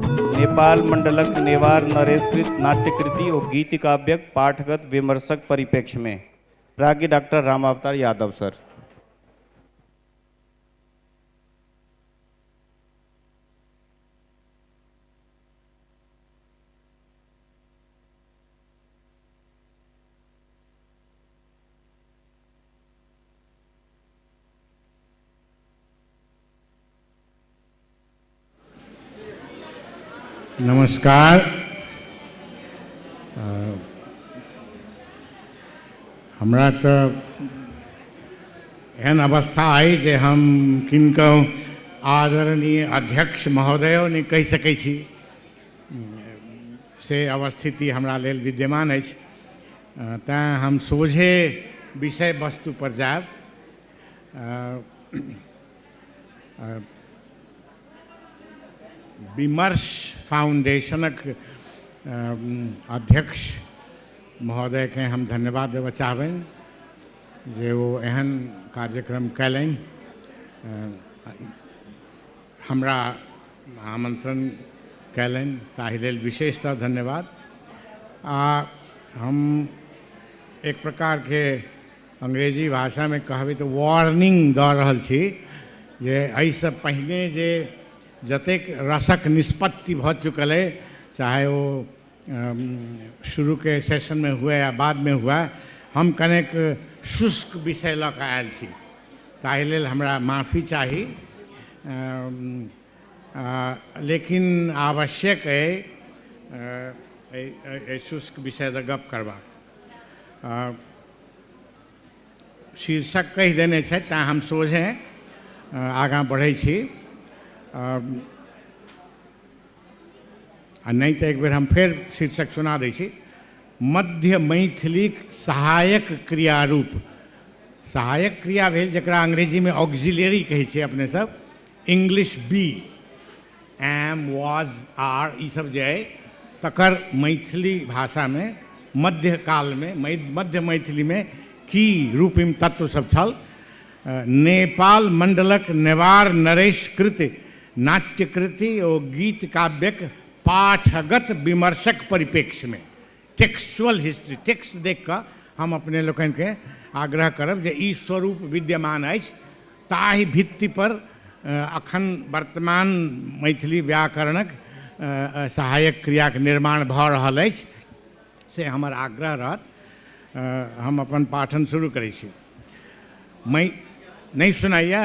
नेपाल मण्डलक नेवार नरेशकृत नाट्यकृति ओ गीतिकाव्यक पाठगत विमर्शक परिप्रेक्ष्यमे प्राज्ञ डाक्टर रामावतार यादव सर नमस्कार हमरा तऽ एहन अवस्था अइ जे हम किनको आदरणीय अध्यक्ष महोदयो नहि कहि सकै छी से अवस्थिति हमरा लेल विद्यमान अछि तैँ हम सोझे विषय वस्तुपर जायब विमर्श फाउंडेशनक अध्यक्ष महोदयके हम धन्यवाद देबऽ चाहबनि जे ओ एहन कार्यक्रम कयलनि हमरा आमन्त्रण कयलनि ताहि लेल विशेषतः धन्यवाद आ हम एक प्रकारके अंग्रेजी भाषामे कहबै तऽ वार्निंग दऽ रहल छी जे एहिसँ पहिने जे जतेक रसक निष्पत्ति भऽ चुकल अइ चाहे ओ शुरूके सेशनमे हुए या बादमे हुए हम कनेक शुष्क विषय लऽ कऽ आयल छी ताहि लेल हमरा माफी चाही लेकिन आवश्यक अइ शुष्क विषय दऽ गप्प करबाक शीर्षक कहि देने छथि तैँ हम सोझे आगाँ बढ़ै छी आ नहि तऽ एक बेर हम फेर शीर्षक सुना दै छी मध्य मैथिलीक सहायक क्रिया रूप सहायक क्रिया भेल जकरा अंग्रेजीमे ऑक्सिलियरी कहै छै अपने सब English be am was are ई सब जे अइ तकर मैथिली भाषामे मध्य कालमे मध्य मैथिलीमे की रूपिम तत्व सब छल नेपाल मण्डलक नेवार नरेश कृत नाट्यकृति ओ गीत काव्यक पाठगत विमर्शक परिप्रेक्ष्यमे टेक्सचुअल हिस्ट्री टेक्स्ट देख कऽ हम अपने लोकनिके आग्रह करब जे ई स्वरूप विद्यमान अछि ताहि भित्तिपर अखन वर्तमान मैथिली व्याकरणक सहायक क्रियाके निर्माण भऽ रहल अछि से हमर आग्रह रहत हम अपन पाठन शुरू करै छी मै नहि सुनाइए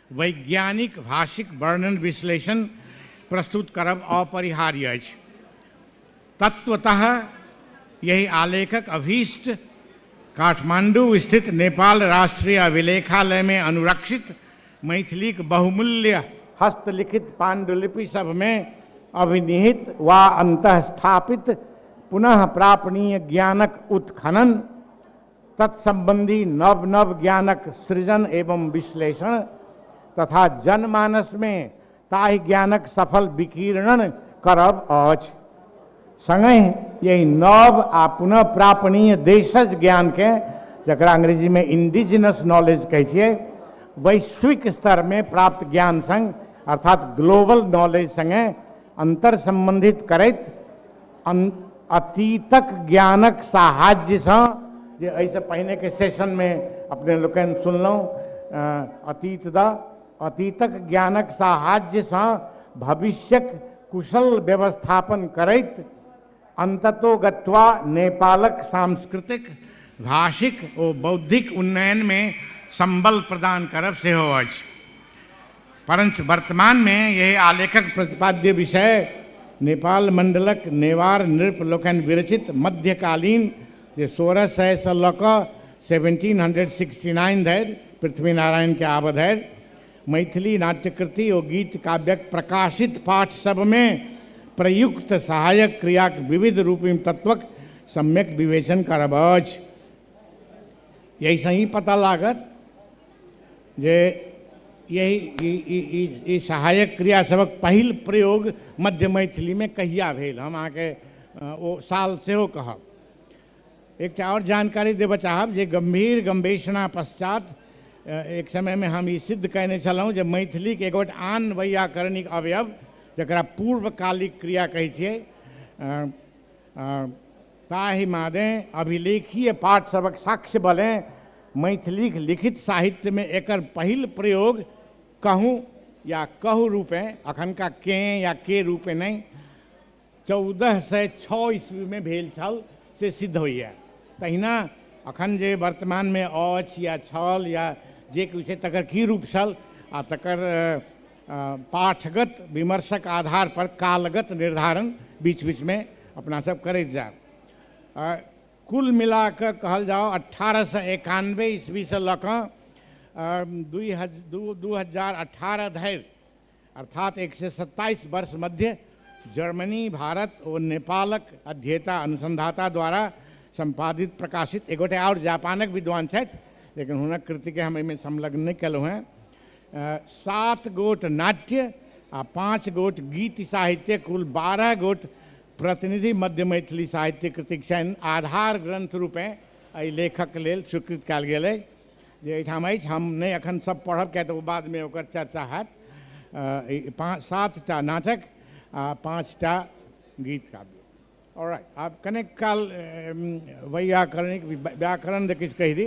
वैज्ञानिक भाषिक वर्णन-विश्लेषण प्रस्तुत करब अपरिहार्य अछि। तत्वतः एहि आलेखक अभीष्ट काठमाण्डू स्थित नेपाल राष्ट्रिय अभिलेखालयमे अनुरक्षित मैथिलीक बहुमूल्य, हस्तलिखित पाण्डुलिपि सभमे अभिनिहित वा अन्तःस्थापित पुनः प्रापणीय ज्ञानक उत्खनन, तत्सम्बन्धी नव नव ज्ञानक सृजन एवं विश्लेषण तथा जनमानसमे ताहि ज्ञानक सफल विकीर्णन करब अछि सङ्गहि यही नव आ पुनः प्रापणीय देशज ज्ञानके जकरा अङ्ग्रेजीमे इंडिजिनस नॉलेज कहै छियै वैश्विक स्तरमे प्राप्त ज्ञान सङ्ग अर्थात ग्लोबल नॉलेज सङ्गे अन्तर सम्बन्धित करैत अतीतक ज्ञानक साहाज्यसँ जे एहिसँ पहिनेके सेशनमे अपने लोकनि सुनलहुँ अतीत द अतीतक ज्ञानक साहाज्यसँ भविष्यक कुशल व्यवस्थापन करैत अन्ततो गत्वा नेपालक सांस्कृतिक भाषिक ओ बौद्धिक उन्नयनमे सम्बल प्रदान करब सेहो अछि परञ्च वर्तमानमे एहि आलेखक प्रतिपाद्य विषय नेपाल मण्डलक नेवार नृप लोकनि विरचित मध्यकालीन जे सोरह सय सँ लऽ कऽ सेवेन्टीन हन्ड्रेड सिक्सटी नाइन धरि पृथ्वीनारायणके आबऽ धरि मैथिली नाट्यकृति ओ गीत काव्यक प्रकाशित पाठ सभमे प्रयुक्त सहायक क्रियाक विविध रूपी तत्वक सम्यक विवेचन करब अछि। एहिसँ ई पता लागत जे यही ई ई ई ई सहायक क्रियासभक पहिल प्रयोग मध्य मैथिलीमे कहिया भेल हम अहाँके अ, ओ साल सेहो कहब एकटा आओर जानकारी देबऽ चाहब जे गम्भीर गम्भीषणा पश्चात अ, एक समयमे हम ई सिद्ध कयने छलहुँ जे मैथिलीक एक गोट आन वैयाकरणिक अवयव जकरा पूर्वकालिक क्रिया कहै छियै अ, अ, ताहि मानें अभिलेखीय पाठ सभक साक्ष्य बलें मैथिलीक लिखित साहित्यमे एकर पहिल प्रयोग कहूँ या कहु रूपें, अखनका कें या के रूपें नहि, चौदह सय छओ ईस्वीमे भेल छल से सिद्ध होइए। तहिना अखन जे वर्तमानमे अछि या छल या जे किछु अछि तकर की रूप छल आ तकर पाठगत विमर्शक आधार पर कालगत निर्धारण बीच बीच में अपना सब करैत जायब आ, कुल मिला कऽ कहल जाओ अठारह सौ एकानबे ईस्वी से लऽ कऽ दुई हज दू दू हजार अठारह धरि अर्थात एक सौ सत्ताईस वर्ष मध्य जर्मनी भारत ओ नेपालक अध्येता अनुसंधाता द्वारा संपादित प्रकाशित एक गोटे और जापानक विद्वान छथि लेकिन हुनक कृतिके हम एहिमे संलग्न नहि केलहुँ हेँ सात गोट नाट्य आ पाँच गोट गीत साहित्य कुल बारह गोट प्रतिनिधि मध्य मैथिली साहित्य कृतिक छनि आधार ग्रंथ रूपें एहि लेखक लेल स्वीकृत कयल गेल अछि जे एहिठाम अछि हम नहि एखन सब पढ़ब किएक तऽ ओ बादमे ओकर चर्चा हैत पाँच सातटा नाटक आ पाँचटा गीत काव्य All right. आब कनेक काल अम, वैयाकरणिक व्या- व्याकरण दे किछु कहि दी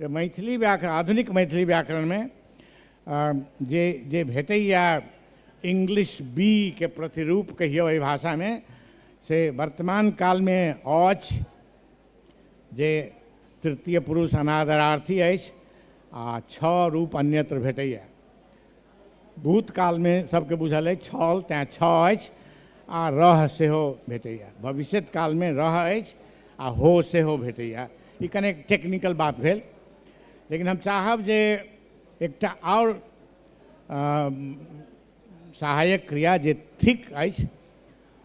जे मैथिली व्याकरण आधुनिक मैथिली व्याकरणमे अम, जे जे भेटैया इंग्लिश बी के प्रतिरूप कहियौ एहि भाषामे से वर्तमान कालमे अछि जे तृतीय पुरुष अनादरार्थी अछि आ छओ रूप अन्यत्र भेटैया भूतकालमे सभके बुझल अछि छल तैँ छ अछि आ रह सेहो भेटैए भविष्यत कालमे रह अछि आ हो सेहो भेटैए ई कनेक टेक्निकल बात भेल लेकिन हम चाहब जे एकटा आओर सहायक क्रिया जे थिक अछि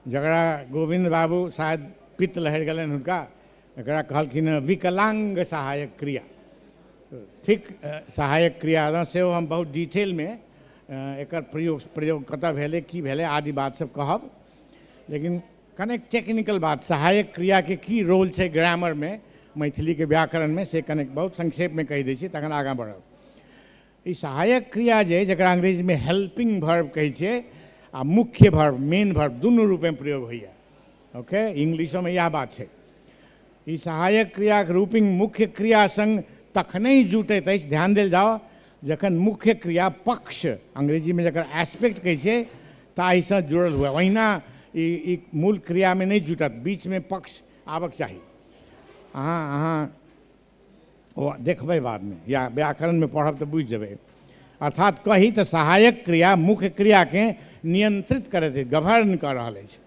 जकरा गोविन्द बाबू शायद पित्त लहरि गेलनि हुनका एकरा कहलखिन हँ विकलाङ्ग सहायक क्रिया थिक सहायक क्रिया रहँ सेहो हम बहुत डिटेलमे एकर प्रयोग प्रयोग कतऽ भेलै की भेलै आदि बात सब कहब लेकिन कनेक टेक्निकल बात सहायक क्रियाके की रोल छै ग्रामरमे मैथिलीके व्याकरणमे से कनेक बहुत संक्षेपमे कहि दै छी तखन आगाँ बढ़ब ई सहायक क्रिया जे अइ जकरा अंग्रेजीमे हेल्पिंग भर्व कहै छियै आ मुख्य भर्व मेन भर्व दुनू रूपमे प्रयोग होइए ओके इंग्लिशोमे इएह बात छै ई सहायक क्रियाक रूपिंग मुख्य क्रिया संग तखनहि जुटैत अछि ध्यान देल जाउ जखन मुख्य क्रिया पक्ष अंग्रेजीमे जकर एस्पेक्ट कहै छियै ताहिसँ जुड़ल हुए ओहिना ई ई मूल क्रियामे नहि जुटत बीचमे पक्ष आबक चाही अहाँ अहाँ ओ देखबै बादमे या व्याकरणमे पढ़ब तऽ बुझि जेबै अर्थात कही तऽ सहायक क्रिया मुख्य क्रियाकेँ नियंत्रित करैत अछि गवर्न कऽ रहल अछि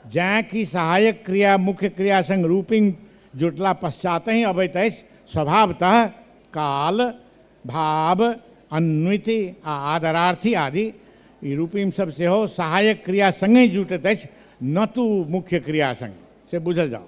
जैँ कि सहायक क्रिया मुख्य क्रिया संग रूपिंग जुटला पश्चातहि अबैत अछि स्वभावतः काल भाव अन्विति आ आदरार्थी आदि ई रूपिंग सब सेहो सहायक क्रिया संगे जुटैत अछि न तू मुख्य क्रिया संग से बुझल जाओ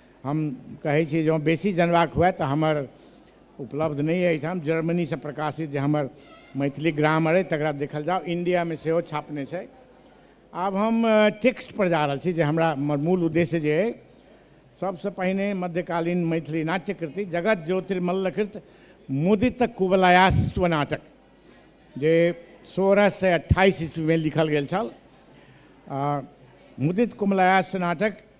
हम कहै छी जँ बेसी जनबाक हुए तऽ हमर उपलब्ध नहि अइ एहिठाम जर्मनीसँ प्रकाशित जे हमर मैथिली ग्रामर अइ तकरा देखल जाउ इण्डियामे सेहो छापने छै आब हम टेक्स्टपर जा रहल छी जे हमरा हमर मूल उद्देश्य जे अइ सबसँ पहिने मध्यकालीन मैथिली नाट्यकृति जगत ज्योतिर्मल्लकृत मुदित कुबलायास्व नाटक जे सोलह सए अट्ठाइस ईस्वीमे लिखल गेल छल आ मुदित कुमलायास्व नाटक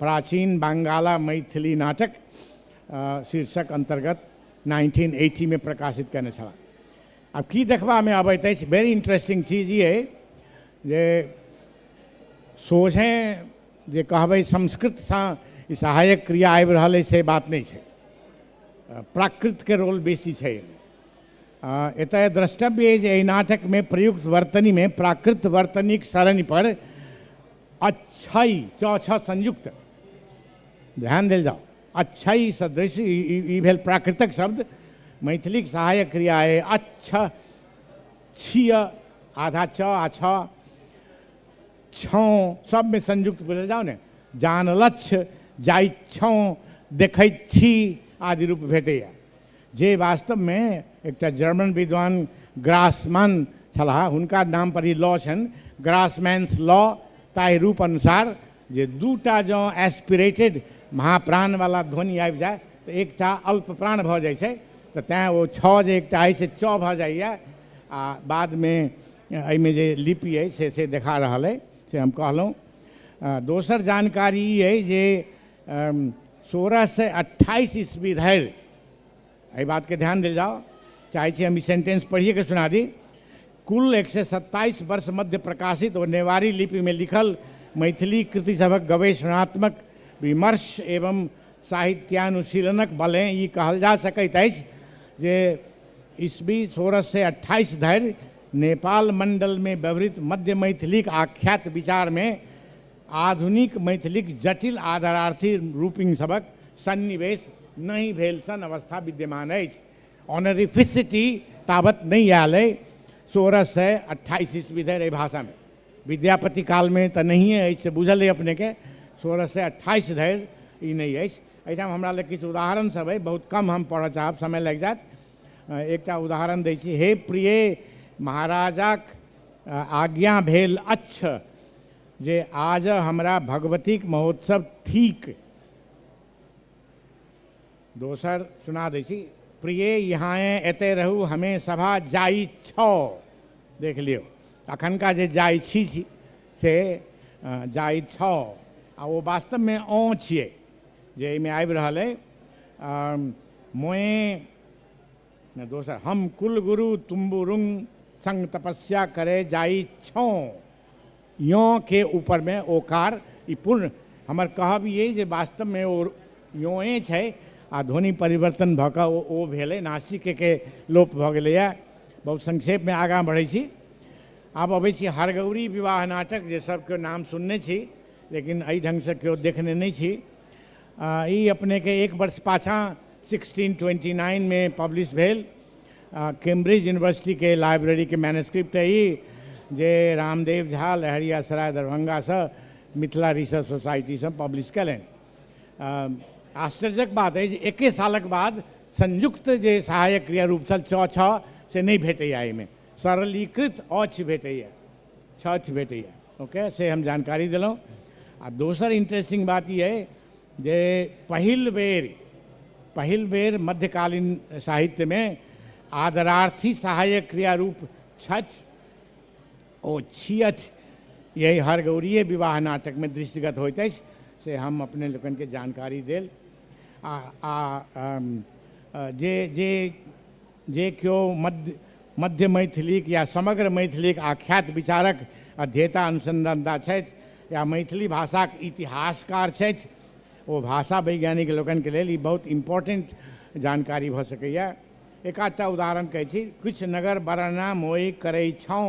प्राचीन बंगाला मैथिली नाटक शीर्षक अन्तर्गत नाइनटीन एटीमे प्रकाशित कयने छलाह आब की देखबामे अबैत अछि वेरी इंटरेस्टिंग चीज ई अइ जे सोझे जे कहबै संस्कृतसँ ई सहायक क्रिया आबि रहल अछि से बात नहि छै प्राकृतके रोल बेसी छै एतय द्रष्टव्य अछि जे एहि नाटकमे प्रयुक्त वर्तनीमे प्राकृत वर्तनीक सरणीपर अच्छाई च छ संयुक्त ध्यान देल जाओ अच्छाई सदृश ई ई- ई भेल प्राकृतक शब्द मैथिलीक सहायक क्रिया है अच्छा छिय आधा च आ छ छौँ सबमे संयुक्त बुझल जाओ ने जानलछ जाइ छौँ देखैत छी आदि रूप भेटैए जे वास्तव मे एकटा जर्मन विद्वान ग्रासमन छलाह हुनका नाम पर ई लॉ छनि ग्रासमैन्स लॉ ताहि रूप अनुसार जे दूटा जँ एस्पिरेटेड महाप्राण वाला ध्वनि आबि जाय तऽ एकटा अल्प प्राण भऽ जाइ छै तऽ तैँ ओ छओ जे एकटा अछि से चऽ भऽ जाइए आ बादमे एहिमे जे लिपि अछि से से देखा रहल अइ से हम कहलहुँ दोसर जानकारी ई अइ जे सोलह सए अट्ठाइस ईस्वी धरि एहि बातके ध्यान देल जाओ चाहै छी हम ई सेंटेंस पढ़िएके सुना दी कुल एक सए सत्ताइस वर्ष मध्य प्रकाशित ओ नेवारी लिपिमे लिखल मैथिली कृति सभक गवेषणात्मक विमर्श एवं साहित्यानुशीलनक बले ई कहल जा सकैत अछि जे ईस्वी सोलह सए अट्ठाइस धरि नेपाल मण्डलमे व्यवहृत मध्य मैथिलीक आख्यात विचारमे आधुनिक मैथिलीक जटिल आदरार्थी रूपिंग सभक सन्निवेश नहि भेल सन अवस्था विद्यमान अछि। ऑनरिफिसिटी ताबत नहि आयल अइ। सोरह सय अट्ठाइस ईस्वी धरि एहि भाषा मे, विद्यापति काल मे तँ नहियें अछि से बुझल अइ अपने केँ, सोरह सय अट्ठाइस धरि ई नहि अछि। एहिठाम हमरा लग किछु उदाहरण सभ अइ। बहुत कम हम पढ़ऽ चाहब, समय लागि जायत। एकटा उदाहरण दै छी। हे प्रिये महाराजाक आज्ञा भेल अच्छ। जे आजऽ हमरा भगवतीक महोत्सव थीक। दोसर सुना दै छी। प्रिये इहाँएँ एतए रहू हमें सभा जाइ छौ। देख लियौ अखनका जे जाइ छी छी से जाइ छौ आ ओ वास्तवमे औँ छियै जे एहिमे आबि रहल अइ। मोएँ। ने दोसर हम कुलगुरु तुम्बुरुंग संग तपस्या करे जाइ छौं। यों के ऊपर में ओकार ई पूर्ण हमर कहब ई अइ जे वास्तव में ओ योंए छै आ ध्वनि परिवर्तन भऽ कऽ ओ ओ भेलै, नासिके के लोप भऽ गेलैए। बहुत संक्षेप में आगाँ बढ़ै छी। आब अबै छी हरगौरी विवाह नाटक जे सब केओ नाम सुनने छी लेकिन अइ ढंग सँ केओ देखने नै छी। आ, ई अपने के एक वर्ष पाछाँ 1629 में पब्लिश भेल आ, कैम्ब्रिज यूनिवर्सिटी के लाइब्रेरी के मैनस्क्रिप्ट है ई जे रामदेव झा लहरिया सराय दरभंगा से मिथिला रिसर्च सोसाइटी से पब्लिश कयलनि आ, आश्चर्यक बात अछि जे एके सालक बाद संयुक्त जे सहायक क्रिया रूप छल च छ से नहि भेटैए एहिमे सरलीकृत अछ भेटैए छाछ भेटैए ओके से हम जानकारी देलहुँ आ दोसर इंटरेस्टिंग बात ई अइ जे पहिल बेर पहिल बेर मध्यकालीन साहित्यमे आदरार्थी सहायक क्रिया रूप छथि ओ छियथि यही हर गौरीय विवाह नाटकमे दृष्टिगत होइत अछि से हम अपने लोकनिके जानकारी देल आ आ जे जे जे क्यो मध्य मध्य मैथिलीक या समग्र मैथिलीक आख्यात विचारक अध्येता अनुसन्धानता छथि या मैथिली भाषाक इतिहासकार छथि ओ भाषा वैज्ञानिक लोकनिके लेल ई बहुत इम्पोर्टेन्ट जानकारी भऽ सकैए एकाधटा उदाहरण कहै छी किछु नगर बरना मोइ करै छौँ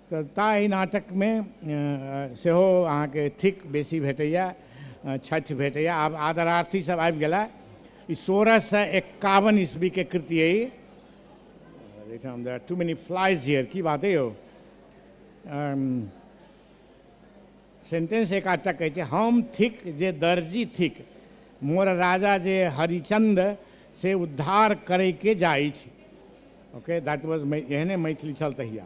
तऽ ता एहि नाटकमे सेहो अहाँके थिक बेसी भेटैए छथि भेटैए आब आदरार्थी सब आबि गेला ई सोलह सए एकावन ईस्वीके कृति अइ एहिठाम there too many flies here की बात अइ यौ सेंटेंस एकाटा कहै छै हम थिक जे दर्जी थिक मोर राजा जे हरिचंद से उद्धार करैके जाइ छी ओके दैट वाज एहने मैथिली छल तहिया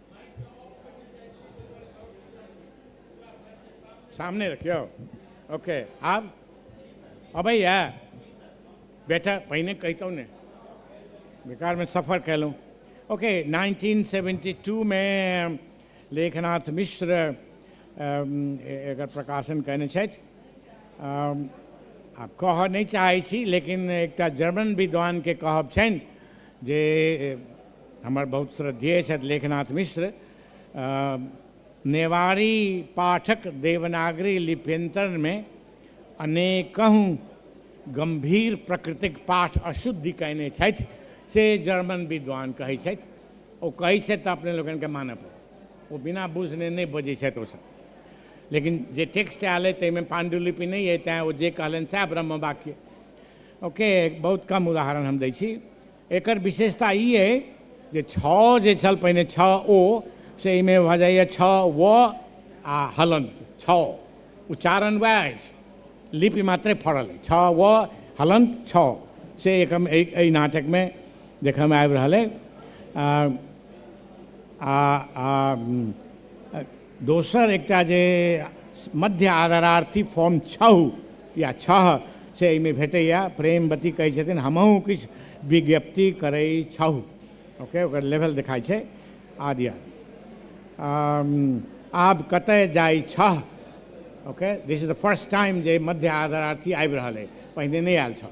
सामने रखियो ओके आब अबैया बेटा पहिने कहितहुँ ने बेकारमे सफर कयलहुँ ओके 1972मे लेखनाथ मिश्र अम, ए- एकर प्रकाशन कयने छथि अम, आब कहऽ नहि चाहै छी लेकिन एकटा जर्मन विद्वानके कहब छनि जे हमर बहुत श्रद्धेय छथि लेखनाथ मिश्र। नेवारी पाठक देवनागरी लिप्यन्तरणमे अनेकहु गम्भीर प्रकृतिक पाठ अशुद्धि कयने छथि से जर्मन विद्वान कहैत छथि। ओ कहैत छथि तँ अपने लोकनिकेँ मानए पड़त। ओ बिना बुझने नहि बजैत छथि ओ सभ। लेकिन जे टेक्स्ट आयल अइ तइमे पाण्डुलिपि नहि अइ तेँ ओ जे कहलनि सएह ब्रह्मवाक्य। ओकरे बहुत कम उदाहरण हम दैत छी। एकर विशेषता ई अइ जे छओ जे छल पहिने छओ ओ से एहिमे भऽ जाइए छओ व आ हलन छओ उच्चारण वएह अछि लिपि मात्रे फड़ल अछि छओ व हलन छओ से एक एहि नाटकमे देखयमे आबि रहल अइ आ आ दोसर एकटा जे मध्य आदरार्थी फॉर्म छहु या छह से एहिमे भेटैए प्रेमवती कहै छथिन हमहूँ किछु विज्ञप्ति करै छहु ओके ओकर लेवल देखाइ छै आदि आब कतय जाइ छह okay this is the first time जे मध्य आदरार्थी आबि रहल अइ पहिने नहि आयल छह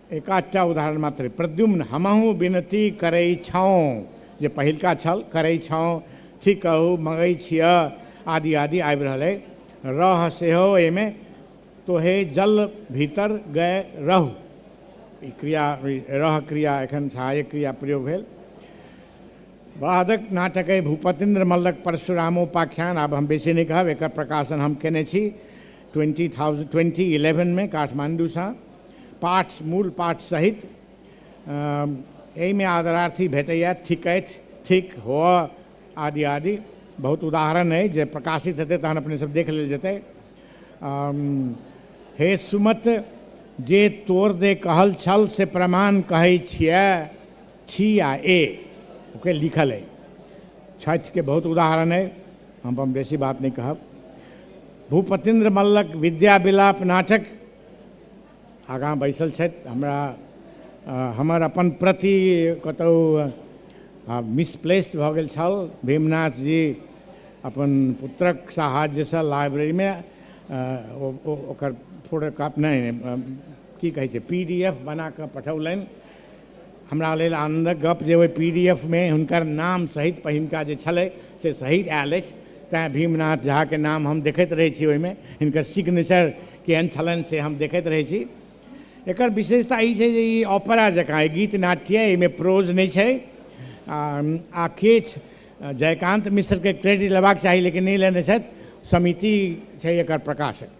एकाधटा उदाहरण मात्र प्रद्युम्न हमहूँ विनती करै छौँ जे पहिलका छल करै छौँ ठीक कहू मगै छिय आदि आदि आबि रहल अइ रह सेहो एहिमे तोहे जल भीतर गए रहू ई क्रिया रह क्रिया एखन सहायक क्रिया प्रयोग भेल बादक नाटक अइ भूपतिन्द्र मल्लक परशुरामोपाख्यान आब हम बेसी नहि कहब एकर प्रकाशन हम कयने छी ट्वेंटी थाउजेंड ट्वेंटी इलेवनमे काठमाण्डूसँ पाठ मूल पाठ सहित एहिमे आदरार्थी भेटैए थिकथि थिक हो आदि आदि बहुत उदाहरण अइ जे प्रकाशित हेतै तहन अपने सब देख लेल जेतै हे सुमत जे तोर दे कहल छल से प्रमाण कहै छियै छी आ ए ओके लिखल अइ छठिके बहुत उदाहरण अइ हम बेसी बात नहि कहब भूपतिन्द्र मल्लक विद्या विलाप नाटक आगाँ बैसल छथि हमरा हमर अपन प्रति कतहु मिसप्लेस्ड भऽ गेल छल भीमनाथ जी अपन पुत्रक साहाय्यसँ लाइब्रेरीमे ओकर फोटो कॉपी नहि की कहै छै पी डी एफ बना कऽ पठौलनि हमरा लेल आनन्दक गप्प जे ओहि पी डी एफ मे हुनकर नाम सहित पहिनका जे छलै से सहित आयल अछि तैँ भीमनाथ झा के नाम हम देखैत रहै छी ओहिमे हिनकर सिग्नेचर केहन छलनि से हम देखैत रहै छी एकर विशेषता ई छै जे ई ऑपरा जकाँ ई गीत नाट्य एहिमे प्रोज नहि छै आ आ किछु जयकान्त मिश्रके क्रेडिट लेबाक चाही लेकिन नहि लेने छथि समिति छै एकर प्रकाशक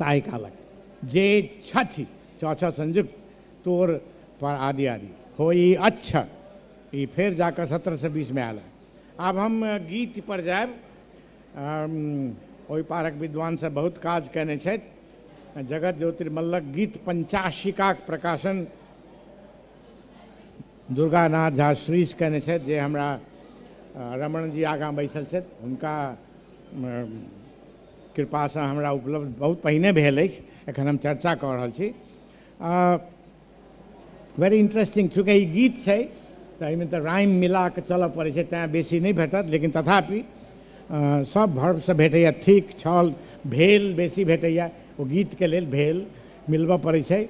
ताहि कालक जे छथि च छ संयुक्त तोर पर आदि आदि होई अच्छ ई फेर जाकऽ सत्रह से बीस मे आयल है आब हम गीत पर जायब ओहि पारक विद्वान सब बहुत काज कयने छथि जगत ज्योतिर्मल्लक गीत पंचाशिकाक प्रकाशन दुर्गानाथ झा श्रीष कयने छथि जे हमरा रमणजी आगाँ बैसल छथि हुनका कृपासँ हमरा उपलब्ध बहुत पहिने भेल अछि एखन हम चर्चा कऽ रहल छी वेरी इंटरेस्टिंग चूँकि ई गीत छै तऽ एहिमे तऽ राइम मिला कऽ चलय पड़ै छै तैँ बेसी नहि भेटत लेकिन तथापि सभ भर्वसँ भेटैए थिक छल भेल बेसी भेटैए ओ गीतके लेल भेल मिलबय पड़ै छै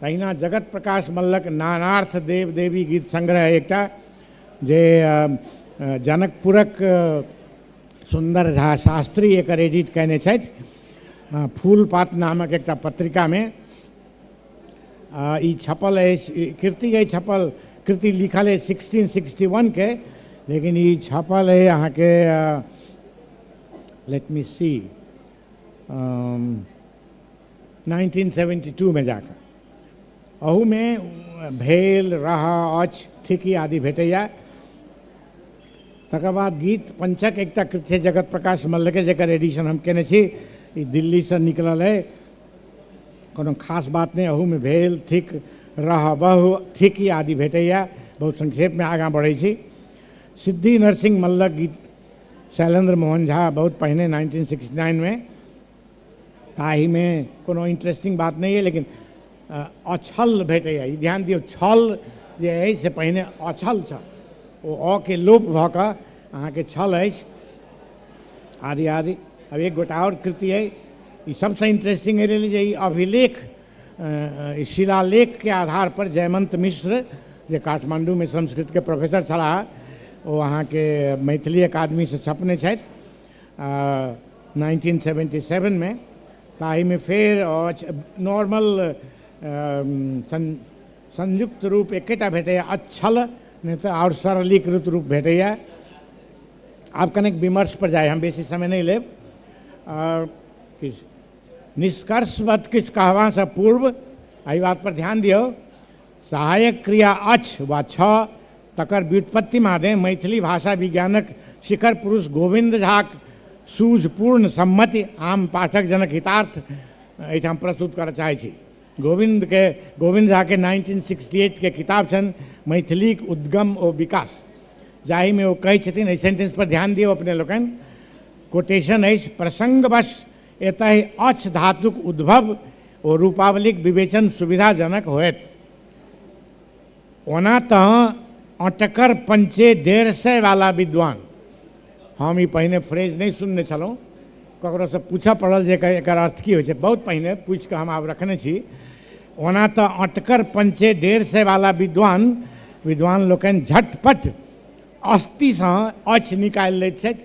तहिना जगत प्रकाश मल्लक नानार्थ देव देवी गीत संग्रह एकटा जे जनकपुरक सुन्दर झा शास्त्री एकर एडिट कयने छथि फूल पात नामक एकटा पत्रिकामे ई छपल अछि कृति अछि छपल कृति लिखल अछि सिक्सटीन सिक्सटी वनके लेकिन ई छपल अछि अहाँके लेट मी सी 1972 में जाकर अहू में भेल रहा अच थिकी आदि भेटैया तकर बाद गीत पंचक एकटा कृत छै जगत प्रकाश मल्ल के जकर एडिशन हम केने छी ई दिल्ली से निकलल है कोनो खास बात नहीं अहू में भेल थिक रह बहु थिकी आदि भेटैया बहुत संक्षेप में आगाँ बढ़ै छी सिद्धि नरसिंह मल्लक गीत शैलेंद्र मोहन झा बहुत पहिने 1969 में ताहिमे कोनो इंटरेस्टिंग बात नहि अइ लेकिन अ, अछल भेटैए ई ध्यान दियौ छल जे अइ से पहिने अछल छल ओ अ के लोप भऽ कऽ अहाँके छल अछि आदि आदि अब एक गोटा और कृति है ई सबसे इंटरेस्टिंग है जे ई अभिलेख अ, अ, ई शिलालेख के आधार पर जयमंत मिश्र जे काठमांडू में संस्कृत के प्रोफेसर छलाह ओ अहाँके मैथिली अकादमी से छपने छथि नाइनटीन सेवेन्टी सेवनमे ताहिमे फेर अछि नॉर्मल संयुक्त रूप एकेटा भेटैए अच्छल नहि तऽ आओर सरलीकृत रूप भेटैए आब कनेक विमर्शपर जाइ हम बेसी समय नहि लेब किछु निष्कर्षवत किछु कहबासँ पूर्व एहि बातपर ध्यान दियौ सहायक क्रिया अछि वा छ तकर व्युत्पत्ति मादे मैथिली भाषा विज्ञानक शिखर पुरुष गोविन्द झाक सूझपूर्ण सम्मति आम पाठक जनक हितार्थ एहिठाम प्रस्तुत करय चाहैत छी। गोविन्द के गोविन्द झा के नाइनटीन सिक्सटी एट के किताब छनि मैथिलीक उद्गम ओ विकास जाहि मे ओ कहैत छथिन एहि सेंटेंस पर ध्यान दियौ अपने लोकनि कोटेशन अछि प्रसंगवश एतहि अच्छ धातुक उद्भव ओ रूपावलीक विवेचन सुविधाजनक होयत। ओना तँ अँटकर पंचे डेढ़ सय वाला विद्वान, हम ई पहिने फ्रेज नहि सुनने छलहुँ, ककरोसँ पूछऽ पड़ल जे एकर अर्थ की होइत छै। बहुत पहिने पूछि कऽ हम आब रखने छी। ओना तँ अँटकर पंचे डेढ़ सय वाला विद्वान, विद्वान लोकनि झट-पट अस्तिसँ अच्छ निकालि लैत छथि।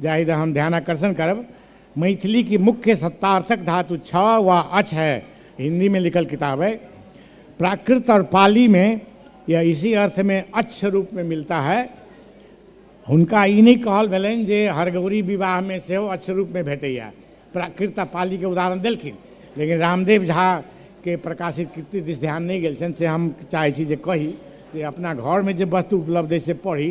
जाहि द हम ध्यानाकर्षण करब मैथिली की मुख्य सत्तार्थक धातु छ वा अच है हिंदी में लिखल किताब है प्राकृत और पाली में यह इसी अर्थ में अच्छ रूप में मिलता है हुनका ई नहीं कहल भेलनि जे हरगौरी विवाह में सेहो अच्छ रूप में भेटैया प्राकृत आ पाली के उदाहरण देलखिन लेकिन रामदेव झा के प्रकाशित कृति दिस ध्यान नहीं गेल छनि से हम चाहै छी जे कही जे अपना घर में जे वस्तु उपलब्ध है से पढ़ी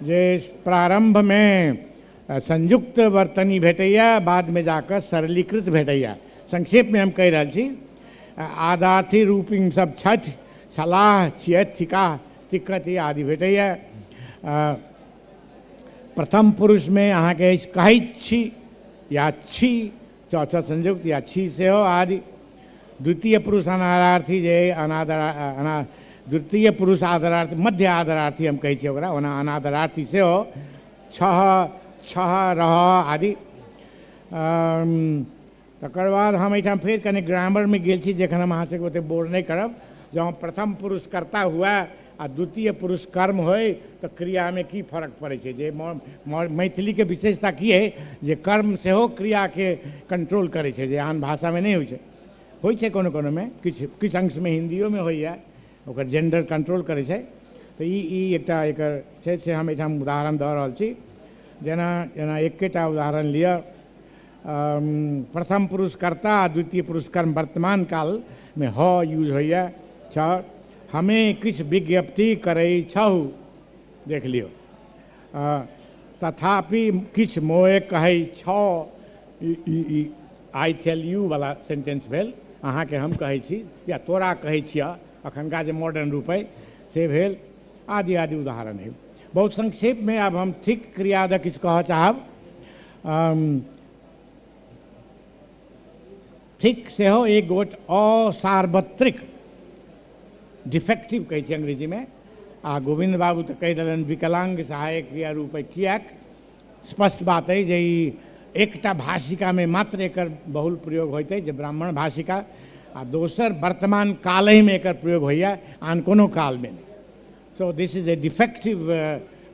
जे प्रारम्भमे संयुक्त वर्तनी भेटैए बादमे जा कऽ सरलीकृत भेटैए संक्षेपमे हम कहि रहल छी आदार्थी रूपिंग सब छथि छलाह छियथि थिकाह तिक्कति आदि भेटैए प्रथम पुरुषमे अहाँके अछि कहैत छी या छी च च संयुक्त या छी सेहो आदि द्वितीय पुरुष अनारार्थी जे अनादर अना द्वितीय पुरुष आदरार्थी मध्य आदरार्थी हम कहै छियै ओकरा ओना अनादरार्थी सेहो छह छह रह आदि तकर बाद हम एहिठाम फेर कनि ग्रामरमे गेल छी जखन हम अहाँ सभके ओतेक बोर नहि करब जँ प्रथम पुरुषकर्ता हुए आ द्वितीय पुरुष कर्म होइ तऽ क्रियामे की फरक पड़ै छै जे मैथिलीके विशेषता की अइ जे कर्म सेहो क्रियाके कंट्रोल करै छै जे आन भाषामे नहि होइ छै होइ छै कोनो कोनोमे किछु किछु अंशमे हिन्दियोमे होइए ओकर जेंडर कंट्रोल करै छै तऽ ई ई एकटा एकर छै से हम एहिठाम उदाहरण दऽ रहल छी जेना जेना एकेटा उदाहरण लिअ प्रथम पुरुष कर्ता आ द्वितीय पुरुष कर्म वर्तमान कालमे ह यूज होइए छ हमे किछु विज्ञप्ति करै छहु, देख लियौ। अँ, तथापि किछु मोए कहै छौ, ई आइ टेल यू बला सेन्टेन्स भेल, अहाँकेँ हम कहै छी, या तोरा कहै छिअह, अखनका जे मोडर्न रूप अइ से भेल, आदि आदि उदाहरण अइ। बहुत संक्षेपमे आब हम थिक क्रिया द किछु कहऽ चाहब। अँ। थिक सेहो एक गोट असार्वत्रिक डिफेक्टिव कहै छै अंग्रेजीमे आ गोविन्द बाबू तऽ कहि देलनि विकलाङ्ग सहायक क्रिया रूपे किएक स्पष्ट बात अइ जे ई एकटा भाषिकामे मात्र एकर बहुल प्रयोग होइत अइ जे ब्राह्मण भाषिका आ दोसर वर्तमान कालहिमे एकर प्रयोग होइए आन कोनो कालमे नहि so this is a defective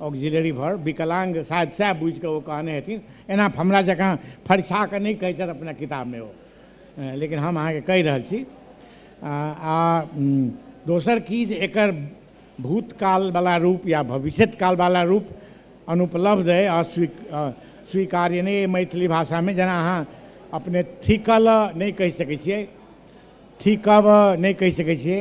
auxiliary भर विकलांग शायद सएह बुझि कऽ ओ कहने हेथिन एना हमरा जकाँ फरिछा कऽ नहि कहै छथि अपना किताबमे ओ लेकिन हम अहाँके कहि रहल छी आ दोसर की जे एकर भूतकालवला रूप या भविष्यकालवला रूप अनुपलब्ध अइ अस्वी स्वीकार्य नहि अइ मैथिली भाषामे जेना अहाँ अपने थिकल नहि कहि सकै छियै थिकब नहि कहि सकै छियै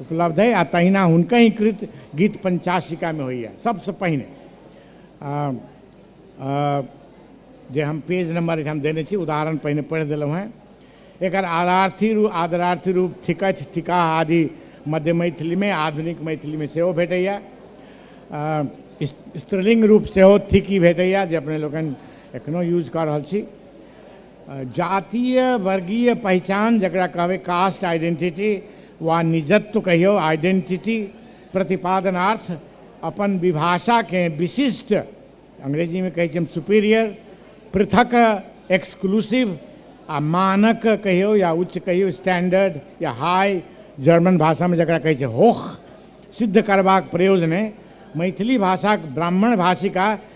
उपलब्ध अइ आ तहिना हुनकहि कृत गीत पञ्चाशिकामे होइए सभसँ पहिने जे हम पेज नम्बर एहिठाम देने छी उदाहरण पहिने पढ़ि देलहुँ हेँ एकर आदार्थी रूप आदरार्थी रूप थिकथि थिका आदि मध्य मैथिलीमे आधुनिक मैथिलीमे सेहो भेटैए स्त्रीलिङ्ग रूप सेहो थिकी भेटैए जे अपने लोकनि एखनो यूज कऽ रहल छी जातीय वर्गीय पहिचान जकरा कहबै कास्ट आइडेंटिटी वा निजत्व कहियौ आइडेंटिटी प्रतिपादनार्थ अपन विभाषाकेँ विशिष्ट अंग्रेजीमे कहै छी हम सुपीरियर पृथक एक्सक्लूसिव आ मानक कहियौ या उच्च कहियौ स्टैंडर्ड या हाई जर्मन भाषामे जकरा कहै छै होख सिद्ध करबाक प्रयोजने मैथिली भाषाक ब्राह्मण भाषिका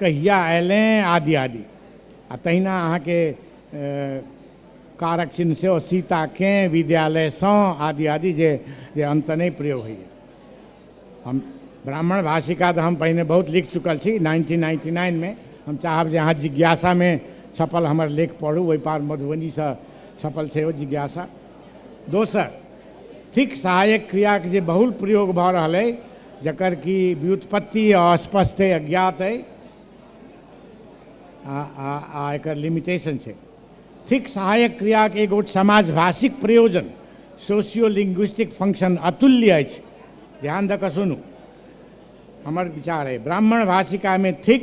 कहिया अयलें आदि आदि। आ तहिना अहाँके कारक चिन्ह सेहो सीता कें, विद्यालय सं आदि आदि जे जे अंत नहि प्रयोग होइए। हम ब्राह्मण भाषिका त हम पहिने बहुत लिख चुकल छी नाइनटीन नाइनटी नाइन मे। हम चाहब जे अहाँ जिज्ञासा मे छपल हमर लेख पढू ओहि पार मधुबनी सं छपल छै ओ जिज्ञासा। दोसर, थिक सहायक क्रियाक जे बहुल प्रयोग भऽ रहल अइ, जकर कि व्युत्पत्ति अस्पष्ट अइ, अज्ञात अइ, आ एकर लिमिटेशन छै। थिक सहायक क्रियाक एक गोट समाजभाषिक प्रयोजन, सोशियोलिंग्विस्टिक फंक्शन, अतुल्य अछि। ध्यान दऽ कऽ सुनू। हमर विचार अइ, ब्राह्मण भाषिकामे थिक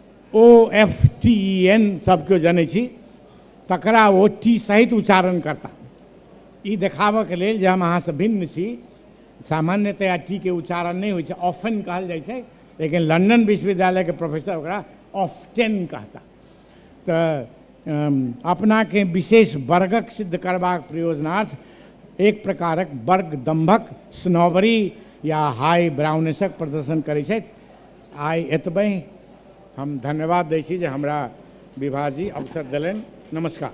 O F T E N सब केओ जनै छी तकरा ओ टी सहित उच्चारण करता ई देखाबऽके लेल जे हम अहाँसँ भिन्न छी सामान्यतया टी के उच्चारण नहि होइ छै ऑफन कहल जाइ छै लेकिन लंदन विश्वविद्यालयके प्रोफेसर ओकरा ऑफ्टेन कहता तऽ अपनाके विशेष वर्गक सिद्ध करबाक प्रयोजनार्थ एक प्रकारक वर्ग दम्भक स्नोबरी या हाई ब्राउनेसक प्रदर्शन करै छथि आइ एतबहि हम धन्यवाद दै छी जे हमरा विभा जी अवसर देलनि नमस्कार